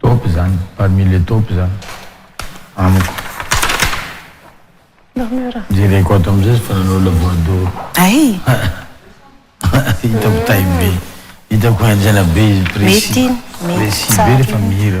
Top zany, parmi les top zany amiko. Murmure. Jereko ato amizay fa nanao la voix d'or. Hitako tay be, hitako henjana be izy, précis, précis be refa mihira.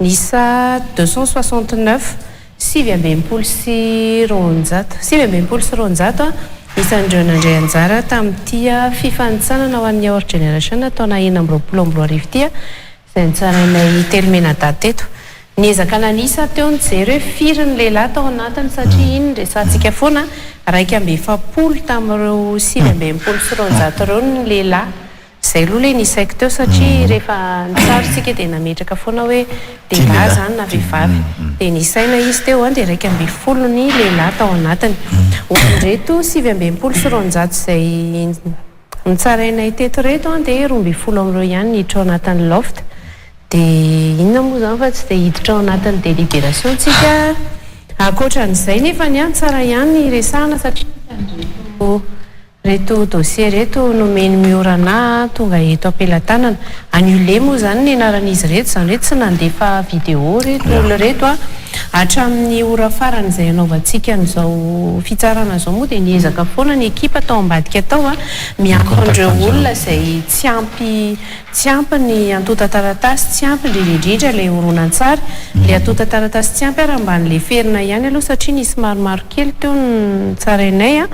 Miisa deux cent soixante neuf, sivy amby enimpolo sy roanjato, sivy amby enimpolo sy roanjato, ny isan'ireo nandray anjara tamin'ity fifanintsanana ho an'ny Our Generation taona enina amby roapolo amby roa arivo ity, izay notsarainay telo mena-dahy teto. Niezaka nanisa teo ny jery hoe firy ny lehilahy tao anatiny satria iny resahantsika foana, iraika amby efapolo tamin'ireo sivy amby enimpolo sy roanjato ireo no lehilahy, Zay aloha le nisaiko teo satria rehefa nitsara isika dia nametraka foana hoe dia lahy izany na vehivavy. Dia nisaina izy teo an dia iraika ambin'ny folo ny lehilahy tao anatiny. Ho an'ireto sivy amby enimpolo sy roanjato izay nitsarainay teto ireto an dia roa ambin'ny folo amin'ireo ihany no hiditra ao anatin'ny loft. Dia inona moa izany fa tsy dia hiditra ao anatin'ny délibération tsika. Ankoatran'izay nefany an, tsara ihany ny hiresahana satria misy an'ireto. Reto dossier reto nomeny Miora Ana tonga eto ampelatanana. Annuler moa izany ny anaran'izy ireto, izany hoe tsy nandefa video ireto olona ireto a. Hatramin'ny ora farany izay hanaovantsika an'izao fitsarana izao moa dia niezaka foana ny ekipa tao ambadika tao a, miantso an'ireo olona izay tsy ampy Tsy ampy ny antontan-taratasy, tsy ampy indrindra indrindra ilay horonantsary. Ilay antontan-taratasy tsy ampy ary mba nileferina ihany aloha satria nisy maromaro kely teo ny tsarainay a!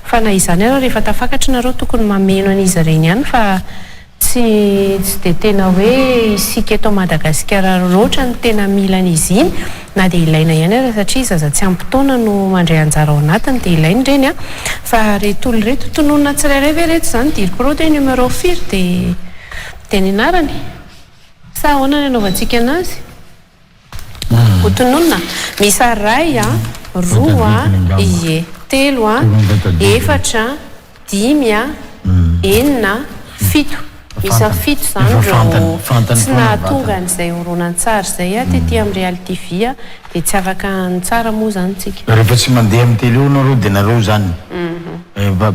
Fa na izany ary rehefa tafakatra nareo tokony mameno an'izy ireny ihany fa tsy tsy dia tena hoe isika eto Madagasikara loatra no tena mila an'izy iny. Na dia ilaina ihany aza satria zaza tsy ampy taona no mandray anjara ao anatiny dia ilaina ireny an! Fa reto tolo reto tononina tsirairay ve reto izany? Diriko roa dia numéro firy dia dia ny anarany? Sa ahoana ny anaovantsika anazy? Ho tononina? Miisa iray an! Roa an! Ie! Telo an! Efatra an! dimy a, enina a, fito, miisa fito izany ireo tsy nahatonga an'izay horonantsary izay a, tety amin'ny reality vie a, dia tsy afaka ny tsara moa izany tsika. Rehefa tsy mandeha amin'ny tele eo nareo dia nareo izany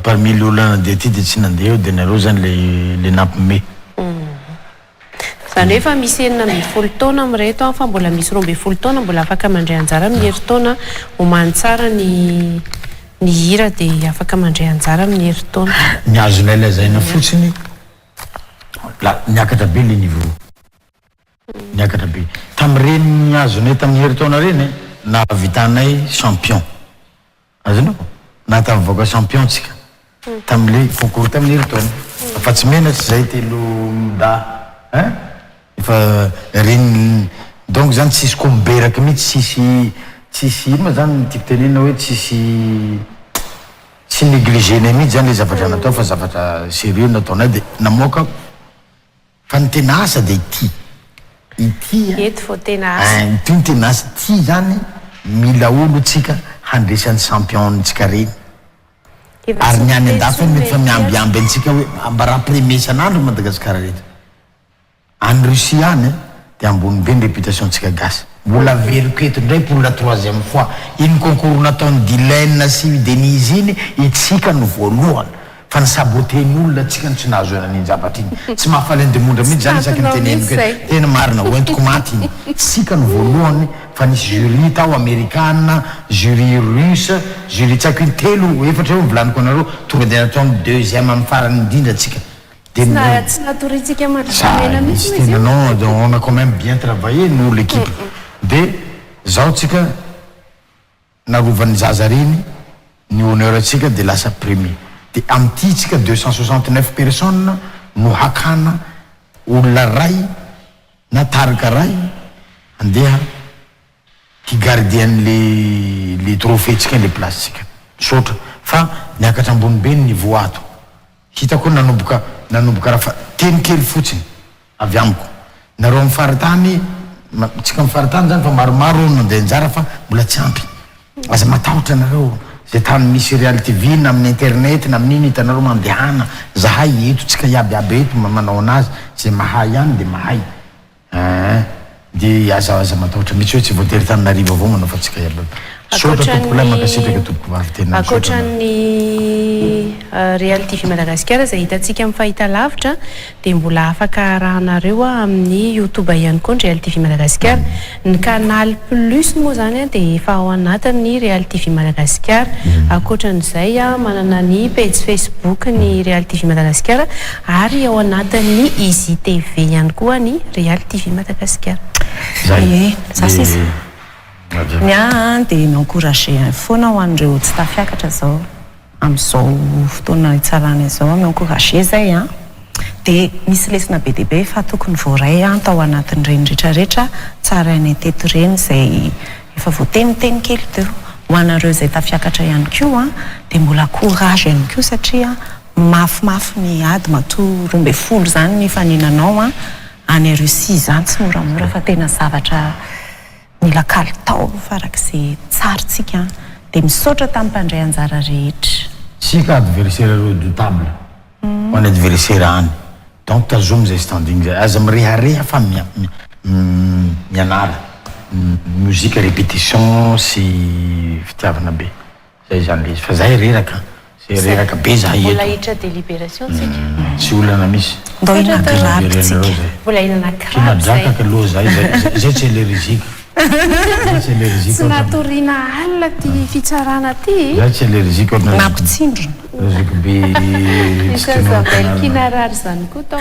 parmi le olona nandeha aty dia tsy nandeha eo dia nareo izany le nampme. Izany hoe efa misy enina ambin'ny folo taona amin'ireto fa mbola misy roa ambin'ny folo taona mbola afaka mandray anjara amin'ny herintaona Homany tsara ny ny hira dia afaka mandray anjara amin'ny herintaona. Ny azonay lazaina fotsiny la niakatra be le niveau. Niakatra be. Tamin'ireny azonay tamin'ny herintaona ireny nahavitanay champion. Azonao? Nahatafavoaka champion tsika tamle concours taminy ry Tony afatsy mena tsy zay telo mda hein efa reny donc zany tsisy ko miberaky mitsy tsisy tsisy ino ma zany tiako tenenina hoe tsisy tsy negligenay mitsy zany le zavatra natao fa zavatra serieux nataonay de namoaka Fa ny tena asa dia ity, ity a. Eto vao tena asa. Ein, ity no tena asa, ity izany mila olo tsika handresy an'i champion ntsika reny. Efa tsy Ary ny any miteny andafy any intsony mety fa Melchior. miambiamby antsika hoe ambarà premier isan'andro i Madagasikara rehetra. Any Russie any a, dia ambony be ny réputation ntsika gasy. Mbola averiko eto indray pour la troisième fois, iny concours nataon'i Dylaine sy i Denise iny, itsika no voalohany. Fa ny saboter olona tsika no tsy nahazo an iny zavatra iny. Tsy mahafaly ny demondra mihintsy zany isaky ny teneniko eto. Tena marina, ho entiko maty iny. Tsika no voalohany fa nisy jury tao amerikana, jury russe, jury tsy haiko in telo, efatra eo ny volaniko anareo, tonga dia natao ny deuxième am farany indrindra tsika. Dia Tsy na tsy natoritsika mandry Za volamena mihintsy izy tena non io. dia on a quand meme bien travailler nous l'équipe. Dia zao tsika. Narovan'ny zaza reny ny honneur tsika de lasa premier de amty tsika deux cent soixante neuf personnes no hakana olona ray na tarika ray handeha hi gardien le le trophée tsika le place tsika misaotra fa miakatra ambony be ny niveau ato Hitako hoe nanomboka nanomboka raha fa teny kely fotsiny avy amiko. Nareo amin'ny faritany, tsika amin'ny faritany zany fa maromaro no nandeha anjara fa mbola tsy ampy. Aza matahotra nareo, zay tany misy Real TV na amin'ny internet na amin'ino hitanareo mandehana, zahay eto, tsika iaby iaby eto manao anazy, zay mahay ihany dia mahay. Aa de aza aza matahotra mitsy hoe tsy voatery tananarivo avao manao fantsika ialao misaotra tompoko lahy mankasitraka tompoko vavy tena misaotra anao Ankoatran'ny Real TV Madagasikara izay hitantsika amin'ny fahitalavitra dia mbola afaka arahanareo amin'ny youtube ihany koa ny Real TV Madagasikara. Ny canal plus moa izany dia efa ao anatin'ny Real TV Madagasikara. Ankoatran'izay manana ny pejy facebook ny Real TV Madagasikara Ary ao anatin'ny Izy TV ihany koa ny Real TV Madagasikara. Zay. Ie, za sisa. Madio. Ny ahy an dia ny encourager an foana ho an'ireo tsy tafiakatra izao amin'izao fotoana hitsarana izao an, mi-encourager zay an, dia misy lesona be dia be efa tokony voaray an tao anatin'ireny rehetra rehetra tsarainay teto ireny izay efa voateniteny kely teo. Ho anareo izay tafiakatra ihany koa an dia mbola courage ihany koa satria. Mafimafy ny ady matoa roa ambin'ny folo izany nifaninanao any Russie izany tsy moramora fa tena zavatra mila kalitao farak'izay tsara tsika dia misaotra tamin'ny mpandray anjara rehetra. Isika adversaire redoutable ho any adversaire any donc tazomy izay standing izay aza mirehareha fa mianara musique repetition sy fitiavana be Zay zany le izy fa zay reraka zay reraka be zah eto. Mbola hiditra deliberation tsika. Tsy olana misy. Ndao hinana crabe tsika. Mbola hinana crabe zay. Tena drakaka loha zay zay zay tsy eleriziky. Zay tsy eleriziky. Tsy natoriana alina ity fitsarana ity. Zay tsy eleriziky otrany. Nampitsindrona. Zokibe. Ny sasabelkina rary zany koa tao.